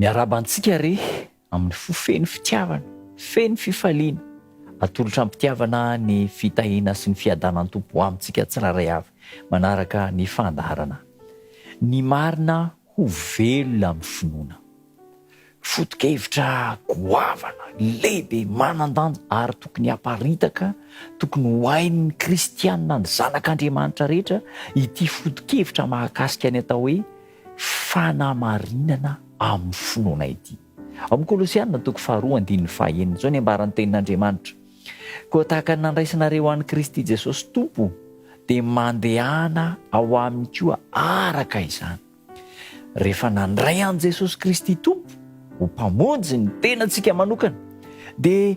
Miarahaba antsika re amin'ny fo feno fitiavana, feno fifaliana, atolotra am-pitiavana ny fitahiana sy ny fiadanan'ny Tompo ho amintsika tsirairay avy, manaraka ny fandaharana Ny marina ho velona amin'ny finoana. Foto-kevitra goavana, lehibe, manan-danja ary tokony haparitaka, tokony ho hain'ny kristiana ny zanak'Andriamanitra rehetra, ity foto-kevitra mahakasika ny atao hoe fanamarinana amin'ny finoana ity. Ao amin'ny Kolosiana toko faharoa andininy fahaenina izao ny ambaran'ny Tenin'Andriamanitra, Koa tahaka ny nandraisanareo an'i Kristy Jesosy Tompo, dia mandehana ao aminy koa araka izany. Rehefa nandray an'i Jesosy Kristy Tompo ho Mpamonjy ny tenantsika manokana, dia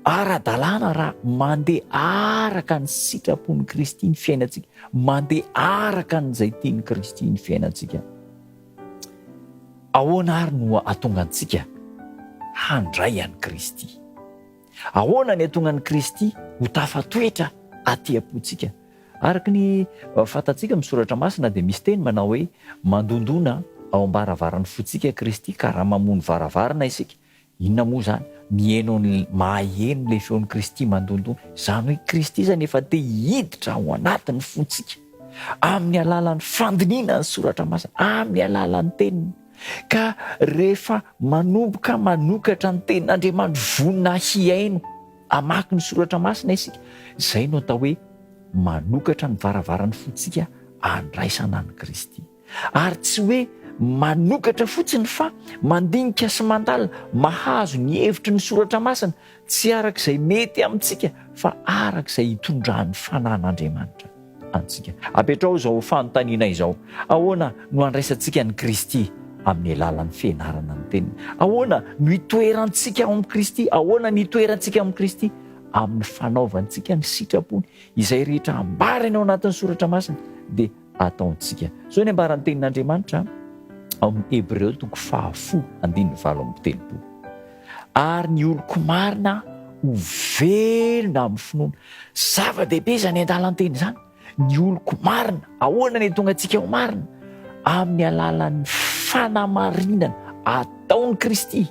ara-dalàna raha mandeha araka ny sitrapon'i Kristy ny fiainantsika, mandeha araka an'izay tian'i Kristy ny fiainantsika. Ahoana àry no hahatonga antsika handray an'i Kristy? Ahoana ny hahatonga an'i Kristy ho tafatoetra aty am-pontsika? Araka ny fantatsika amin'ny Soratra Masina dia misy teny manao hoe mandondona ao am-baravaran'ny fontsika Kristy ka raha mamoha ny varavarana isika, inona moa izany? Miheno ny, maheno ilay feon'i Kristy mandondona. Izany hoe Kristy izany efa te hiditra ao anatin'ny fontsika amin'ny alalan'ny fandinihina ny Soratra Masina, amin'ny alalan'ny teniny. Ka rehefa manomboka manokatra ny tenin'Andriamanitra vonona hihaino, Hamaky ny soratra masina isika, izay no atao hoe manokatra ny varavarany fontsika handraisana an'i Kristy. Ary tsy hoe manokatra fotsiny fa mandinika sy mandalina, mahazo ny hevitry ny soratra masina, tsy araka izay mety amintsika fa araka izay hitondran'ny Fanahin'Andriamanitra. antsika. Apetraho izao fanontaniana izao, Ahoana no andraisantsika an'i Kristy amin'ny alalan'ny fianarana ny Teniny? Ahoana no itoerantsika ao amin'i Kristy? Ahoana no itoerantsika ao amin'i Kristy? Amin'ny fanaovantsika ny sitrapony. Izay rehetra ambarany ao anatin'ny soratra masina dia ataontsika. Izao ny ambaran'ny Tenin'Andriamanitra ao amin'ny Hebreo toko fahafolo andininy valo amby telopolo. ary ny oloko marina ho velona amin'ny finoana. Zava-dehibe izany andalan-teny izany, ny oloko marina. Ahoana ny tonga antsika ho marina? Amin'ny alalan'ny fanamarinana ataon'i Kristy.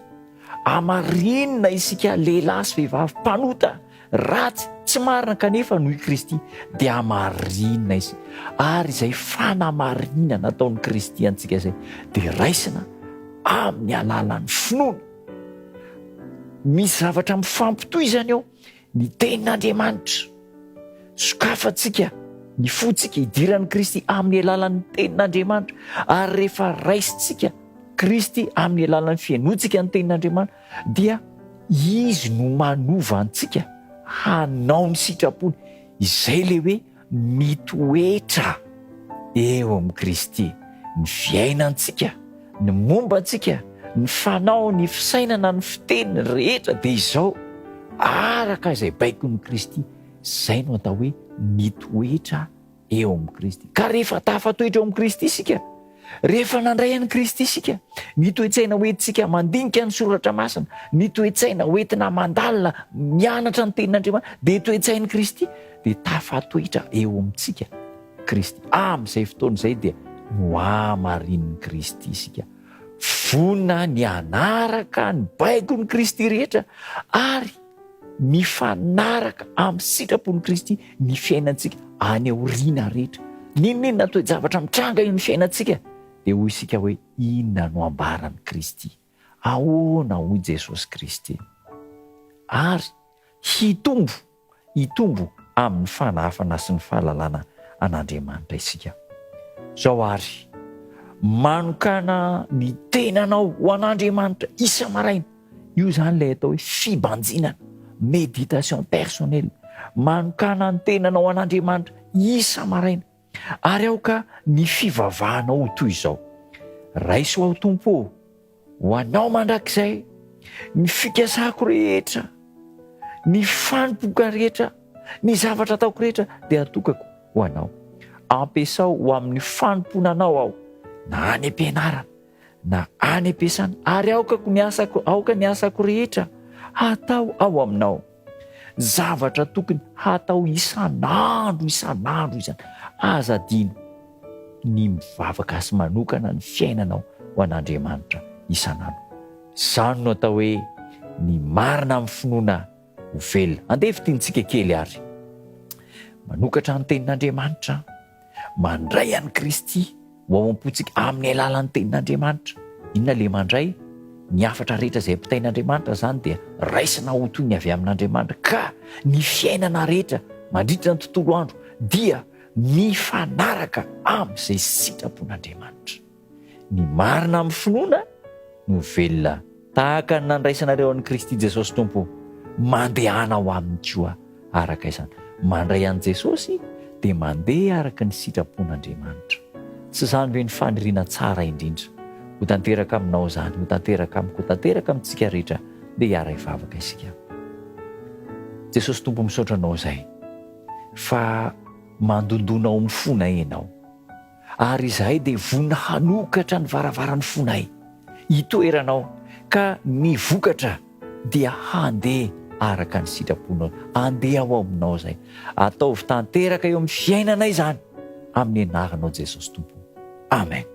Hamarinina isika lehilahy sy vehivavy mpanota Ratsy, tsy marina kanefa no i Kristy dia hamarinina izy. Ary izay fanamarinana nataon'i Kristy antsika izay dia raisina amin'ny alalan'ny finoana. Misy zavatra mifampitohy izany eo, ny tenin'Andriamanitra. Sokafantsika ny fontsika idiran'i Kristy amin'ny alalan'ny tenin'Andriamanitra ary rehefa raisintsika Kristy amin'ny alalan'ny fihainoantsika ny tenin'Andriamanitra dia Izy no manova antsika hanao ny sitrapony, izay ilay hoe mitoetra eo amin'i Kristy, ny fiainantsika, ny momba antsika, ny fanao, ny fisainana, ny fiteny rehetra dia izao, araka izay baikon'i Kristy, izay no atao hoe mitoetra eo amin'i Kristy. Ka rehefa tafatoetra eo amin'i Kristy isika, rehefa nandray an'i Kristy isika, ny toe-tsaina hoentintsika mandinika ny soratra masina, ny toe-tsaina hoentina mandalina mianatra ny tenin'Andriamanitra, dia toe-tsain'i Kristy, dia tafatoetra eo amintsika Kristy. Amin'izay fotoana izay dia nohamarinin'i Kristy isika. Vonona ny hanaraka ny baikon'i Kristy rehetra ary mifanaraka amin'ny sitrapon'i Kristy ny fiainantsika any aoriana rehetra. N'inon'inona toe-javatra mitranga eo amin'ny fiainantsika dia hoy isika hoe inona no ambaran'i Kristy, ahoana hoy Jesosy Kristy. Ary hitombo, hitombo amin'ny fanahafana sy ny fahalalana an'Andriamanitra isika. Zao ary, manokana ny tenanao ho an'Andriamanitra isa-maraina. Io izany ilay atao hoe fibanjinana, méditation personnelle. Manokana ny tenanao an'Andriamanitra isa-maraina. Ary aoka ny fivavahanao ho toy izao. Raiso aho Tompo ô, ho anao mandrakizay, ny fikasako rehetra, ny fanompoka rehetra, ny zavatra ataoko rehetra dia atokako ho anao. Ampiasao ho amin'ny fanompoana anao aho, na any am-pianarana, na any am-piasana ary aokako ny asako aoka ny asako rehetra hatao ao aminao zavatra tokony hatao isan'andro isan'andro izany aza adino ny mivavaka asy manokana ny fiainanao ho an'andriamanitra isan'andro izany no atao hoe ny marina amin'ny finoana ho velona andeha fitintsika kely ary manokatra ny tenin'andriamanitra Mandray an'i Kristy ho ao am-pontsika amin'ny alalan'ny tenin'Andriamanitra. Inona ilay mandray? Ny hafatra rehetra izay ampitain'Andriamanitra izany dia raisina ho toy ny avy amin'Andriamanitra, ka ny fiainana rehetra mandritra ny tontolo andro dia mifanaraka amin'izay sitrapon'Andriamanitra. Ny marina amin'ny finoana no velona, tahaka ny nandraisanareo an'i Kristy Jesosy Tompo. Mandehana ho aminy koa araka izany. Mandray an'i Jesosy dia mandeha araka ny sitrapon'Andriamanitra. Tsy izany ve ny faniriana tsara indrindra? Ho tanteraka aminao izany, ho tanteraka amiko, ho tanteraka amintsika rehetra. Ndeha hiara hivavaka isika. Jesosy Tompo, misaotra Anao izay fa mandondona ao amin'ny fonay Ianao. Ary izahay dia vonona hanokatra ny varavaran'ny fonay hitoeranao, ka ny vokatra dia handeha araka ny sitraponao. Andeha ho ao aminao izay. Ataovy tanteraka eo amin'ny fiainanay izany, amin'ny anaranao Jesosy Tompo o. Amen.